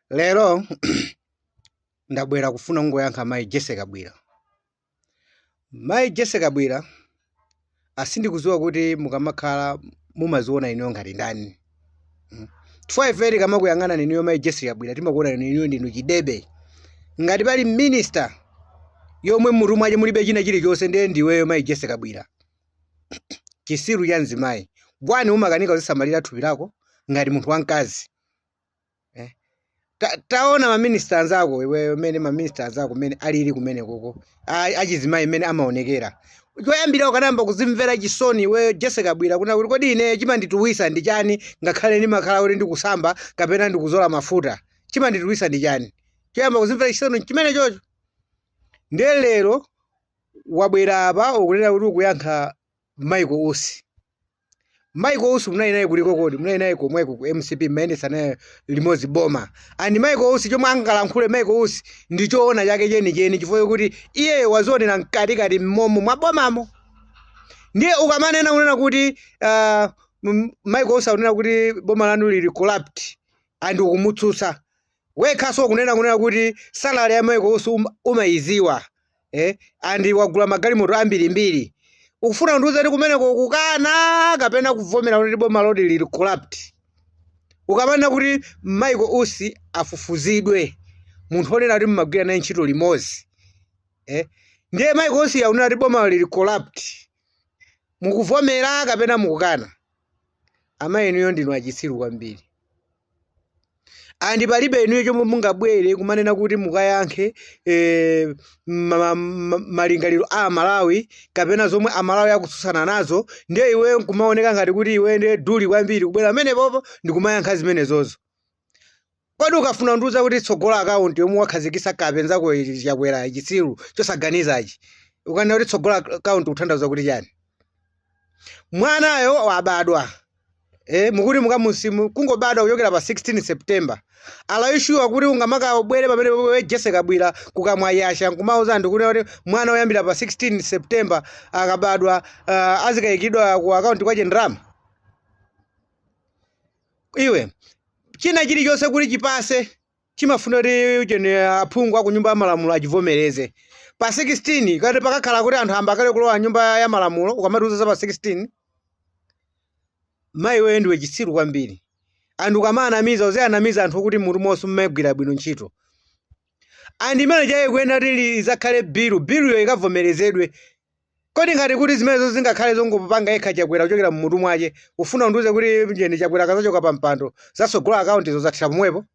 lero ndabwera kufuna kungoyankha mayi jese kabwira mayi jese kabwira sindikuziwa kuti mukamakhala mumaziona inuyo ngati ndani chifukwa ife tikamakuyang'ana inuyo mayi jese kabwira timakuona inuyo ndinu chidebe ngati pali minista yomwe mmutu mwache mulibe china chilichonse ndiye ndiweyo mayi jese kabwira chisiru cha mzimayi bwanji umakanika kuzisamalira thupi lako ngati munthu wamkazi taona maminista anzako iweyo mene maminista anzako mene alili kumene koko achizimayi mene amaonekera choyambira ukanayamba kuzimvera chisoni iweyo jese kabwira kunena kuti kodi ine chimandituwisa ndi chani ngakhale ndimakhala kuti ndikusamba kapena ndikuzola mafuta chimandituwisa ndi chani choyamba kuzimvera chisoni chimene chocho ndiye lero wabwera apa ukunena kuti ukuyankha Michael Usi Michael Usi munali naye kuliko kodi munali naye komweko ku MCP mumayendetsa naye limodzi boma and Michael Usi chomwe angalankhule Michael Usi ndi choona chake chenicheni chifukwa chokuti iyeyo wazionera mkatikati mmomo mwa bomamo ndiye ukamanena kunena kuti Michael Usi akunena kuti boma lanu lili corrupt and ukumutsutsa wekhanso kunena kunena kuti salary ya Michael Usi umaiziwa eh andi wagula magalimoto ambirimbiri ukufuna undiuze kuti kumeneko kukana kapena kuvomera kuti bomalodi lili corrupt ukamanena kuti Michael Usi afufuzidwe munthu onena kuti mumagwira naye ntchito limodzi eh ndiye Michael Usi akunena kuti bomalo lili corrupt mukuvomera kapena mukukana amayi inuyo ndinu achitsiru kwambiri andi palibe inuyo chomwe mungabwere kumanena kuti mukayankhe malingaliro a amalawi kapena zomwe amalawi akutsutsana nazo ndiye iwe nkumaoneka ngati kuti iwe ndiye dolo kwambiri kubwera pamenepopo ndikumayankha zimenezozo Kodi ukufuna undiuze kuti tsogola account yomwe wakhazikisa kape nzako Chakwera chitsiru chosaganizachi ukanena kuti tsogola account kuthandauza kuti chani mwanayo wabadwa eh mukuti mukamusimu kungobadwa kuchokera pa 16 September are you sure kuti ungamakabwere pamene iwe Jesse Kabwira kukamwa yasa nkumauza anthu kuti kuti mwana oyambira pa 16 September akabadwa uh, azikaikidwa ku account kwache ndalama iwe china chilichonse kuti chipase chimafuna kuti unene aphungu a ku nyumba ya malamulo achivomereze pa 16 kati pakakhala kuti anthu ayamba kale kulowa nyumba ya malamulo ukamatiuza za pa 16 mayi iweyo ndiwe chitsiru kwambiri andi ukamawanamiza uziwanamiza anthu okuti mmutu monse mumagwira bwino ntchito and imene chaye kuyenera kuti izakhale bilu biluyo ikavomerezedwe Kodi ngati kuti zimenezo zingakhale zongopanga yekha Chakwera kuchokera mmutu mwache, ufuna undiuze kuti ujeni Chakwera akazachoka pa mpando, za sogolo account zo zathera pomwepo?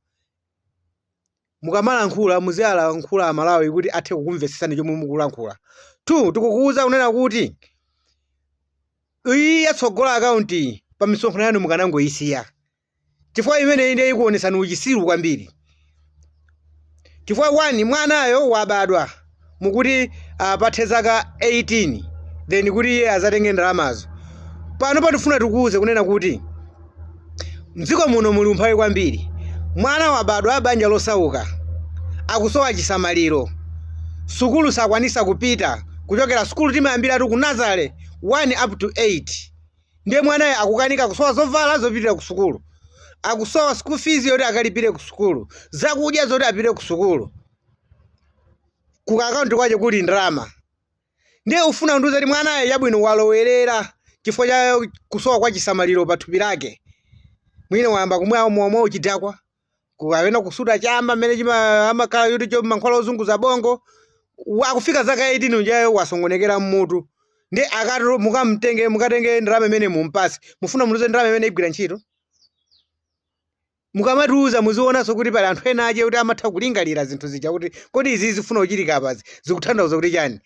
Mukamalankhula muzialankhula a Malawi kuti athe kukumvesesani chomwe mukulankhula. Two, tikukuuza kunena kuti iyi ya tsogolo account pamisonkhano yanu mukanangoisiya. chifukwa imeneyi ndiye ikuonetsani uchisiru kwambiri chifukwa one mwanayo wabadwa mukuti papite zaka 18 then kuti iye azatenge ndalamazo pano pa tifuna tikuuze kunena kuti mdziko muno muli umphawi kwambiri mwana wabadwa banja losauka akusowa chisamaliro sukulu sakwanisa kupita kuchokera sukulu timayambiratu ku nazale 1 up to 8 ndiye mwanayo akukanika akusowa zovala zopitira ku sukulu akusowa school fees yoti akalipire ku sukulu zakudya zoti apite ku sukulu ku akaunti kwache kuli ndalama ndiye ufuna kundiuza kuti mwanayo yabwino walowerera chifukwa cha kusowa kwa chisamaliro pa thupi lake mwina wayamba kumwa mowa uchidakwa ku- kapena kusuta chamba mmene chima- amatcha kuti chani mankhwala ozunguza bongo wa- akufika zaka 18 ujayo wasokonekera mmutu ndi akatero mukamtenge mukatenge ndalama imene mumpasi mufuna muluze ndalama imene igwira ntchito mukamatiuza muzionanso kuti pali anthu ena ake kuti amatha kulingalira zinthu zija kuti kodi izi zifuna kuchitika apazi zikuthandauza kuti chani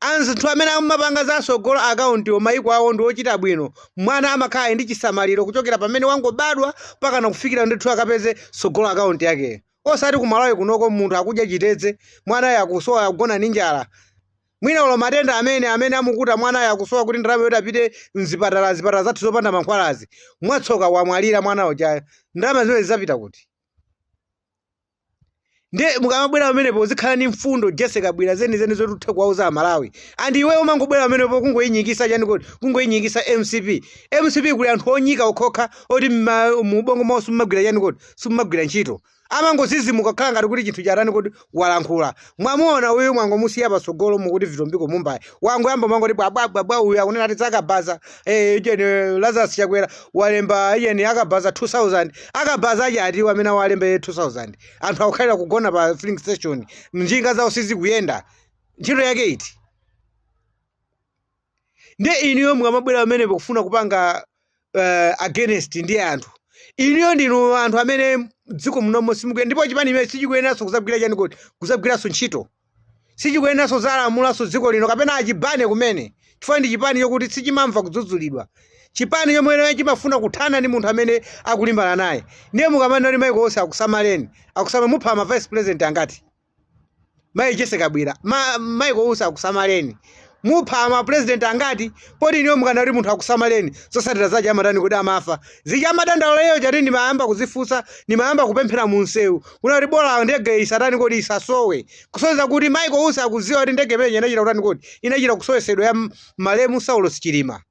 Anzathu amene amapanga za tsogolo akauntiwo maiko awo ndi ochita bwino. Mwana amakhala ali ndi chisamaliro kuchokera pamene wangobadwa mpakana kufikira ndithu akapeze tsogolo akaunti yakeyo. Osati ku Malawi kunoko munthu akudya chitedze, mwanayo akusowa, akugona ndi njala. Mwina olo matenda amene amene amukuta mwanayo akusowa kuti ndalama yoti apite mzipatala zipatala zathu zopanda mankhwalazi. Mwatsoka wamwalira mwana ujayo. Ndalama zimenezi zidzapita kuti? ndiye mukamabwera pamenepo uzikhala ndi mfundo jessie kabwila zenizeni zoti uthe kuwauza amalawi and iwe umangobwera pamenepo kungoyinyikisa chani kodi kungoyinyikisa mcp mcp kuli anthu onyika okhokha oti mma- mu ubongo mwawo simumagwira chani kodi simumagwira ntchito amangozizimuka kukhala ngati kuti chinthu chatani kodi walankhula Mwamuona uyu mwangomusiya patsogolo mukuti vitumbiko mumba iye wangoyamba mwangoti bwabwabwabwa uyu akunena ati zakabaza eh, ujeni eh, lazarus chakwera walemba ujeni akabaza 2000 akabaza ache atiwo amene awalemba 2000 anthu akukhalira kugona pa filling station njinga zawo sizikuyenda ntchito yake iti ndiye inuyo mukamabwera pamenepo kufuna kupanga uh, against ndi anthu inuyo ndinu anthu amene dziko munomo simukuyenera ndipo chipani imene sichikuyeneranso kuzagwira chani kodi kuzagwiranso ntchito sichikuyeneranso zalamulanso dziko lino kapena a chibale kumene chifukwa ndi chipani chokuti sichimamva kudzudzulidwa chipani chomwe chimafuna kuthana ndi munthu amene akulimbana naye ndiye mukamanena michael usi akusamaleni akusamala mupha ma vice president angati mayi jessie kabwila ma, michael usi akusamaleni mupha ama president angati poti inuyo mukana kuti munthu akusamaleni zosatira zache amatani kodi amafa zija amadandaula iyeyo chati ndimayamba kuzifunsa ndimayamba kupemphera mu msewu kunena kuti bola ndege isatani kodi isasowe kusonyeza kuti michael usi akuziwa kuti ndege imeneyi inachita kutani kodi inachita kusowesedwa ya m- malemu saulos chilima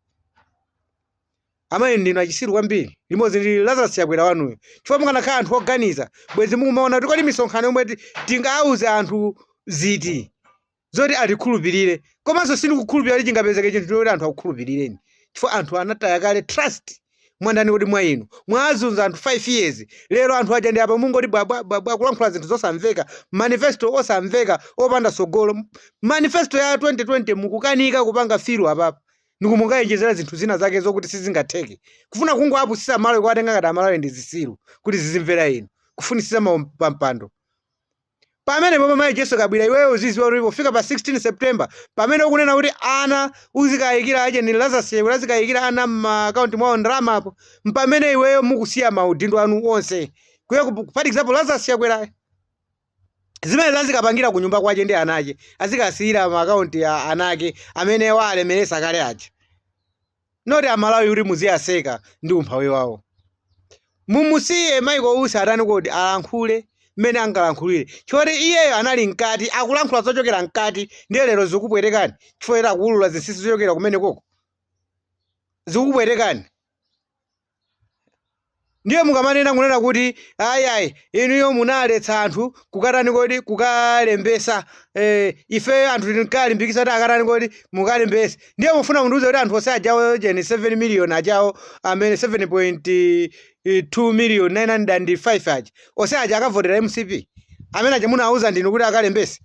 Amayi ndinu achisiru kwambiri limodzi ndi Lazarus Chakwera wanuyo chifukwa mukanakhala anthu oganiza bwenzi mukumaona kuti kodi misonkhano yomwe ti- tingauze anthu ziti zoti atikhulupirire komanso sindikukhulupirira kuti chingapezeke chinthu choti anthu akukhulupirireni chifukwa anthu anataya kale trust mwandani kodi mwa inu mwazunza anthu 5 years lero anthu aja ndi apa mungoti bwabwabwabwa kulankhula zinthu zosamveka manifesto osamveka opanda sogolo manifesto ya 2020 mukukanika kupanga fulfil apapa ndikumakaonjezera zinthu zina zake zokuti sizingatheke kufuna kungowapusisa amalawi kuwatenga ngati amalawi ndi zisiru kuti zizimvera inu kufunisisa pampando pamene pomwe mayi jessie kabwila iweyo uziziwa kuti pofika pa 16 september pamene ukunena kuti ana uzikayikira aja ndi lazarus chakwera azikayikira ana m'maakaunti mwawo ndalama apo mpamene iweyo mukusiya maudindo anu onse kuye for example lazarus chakwerayo zimenezi azikapangira ku nyumba kwache ndi ana ache azikasiyira ma akaunti a ana ake amene waalemeresa kale aja not amalawi kuti muziyaseka ndi umphawi wawo mumusiye michael usi atani kodi alankhule mmene angalankhulire choti iyeyo anali mkati akulankhula zochokera mkati ndiye lero zikupwetekani chifukwa akuulula zinsinsi zochokera kumene koko zikupwetekani ndiye mukamanena kunena kuti ayi ayi inuyo munaletsa anthu kukatani kodi kukalembesa eh, ifeyo anthu tinkalimbikisa kuti akatani kodi mukalembese ndiye mufuna mundiuze kuti anthu onse ajawo ujeni 7 million ajawo amene 7.2 million 905 aja onse aja akavotera mcp amene aja munauza ndinu kuti akalembese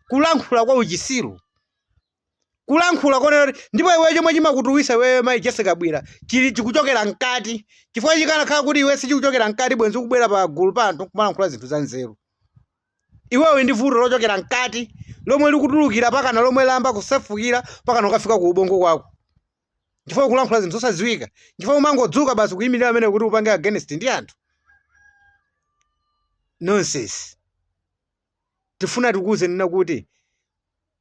kulankhula kwa uchisiru kulankhula konena kuti ndipo iweyo chomwe chimakutuwisa iweyo mayi jessie kabwila chikuchokera mkati chifukwa chikanakhala kuti iwe sichikuchokera mkati bwenzi ukubwera pa gulu pa anthu kumalankhula zinthu za nzeru iweyo ndi vuto lochokera mkati lomwe likutulukira mpakana lomwe layamba kusefukira mpakana kukafika ku ubongo kwako chifukwa ukulankhula zinthu zosadziwika chifukwa umangodzuka basi kuyimirira amene kuti upange against ndi anthu nonsense tifuna tikuuze kunena kuti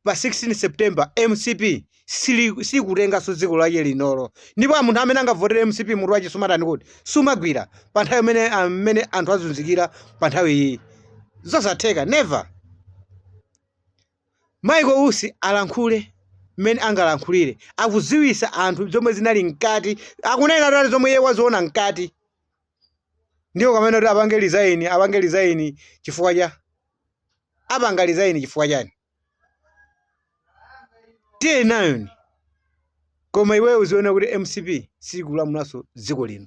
pa 16 september mcp sili- sikutenganso dziko lache linolo ndipo munthu amene angavotere mcp mutu wache sumatani kodi sumagwira pa nthawi imene amene anthu azunzikira pa nthawi iyi zosatheka never michael usi alankhule mmene angalankhulire akuziwisa anthu zomwe zinali mkati akunena tali zomwe iye waziona mkati ndiyo kamene kuti apange resign apange resign chifukwa cha apanga resign chifukwa chani tiye nayoni koma iweyo uziona kuti mcp sikulamulanso dziko lino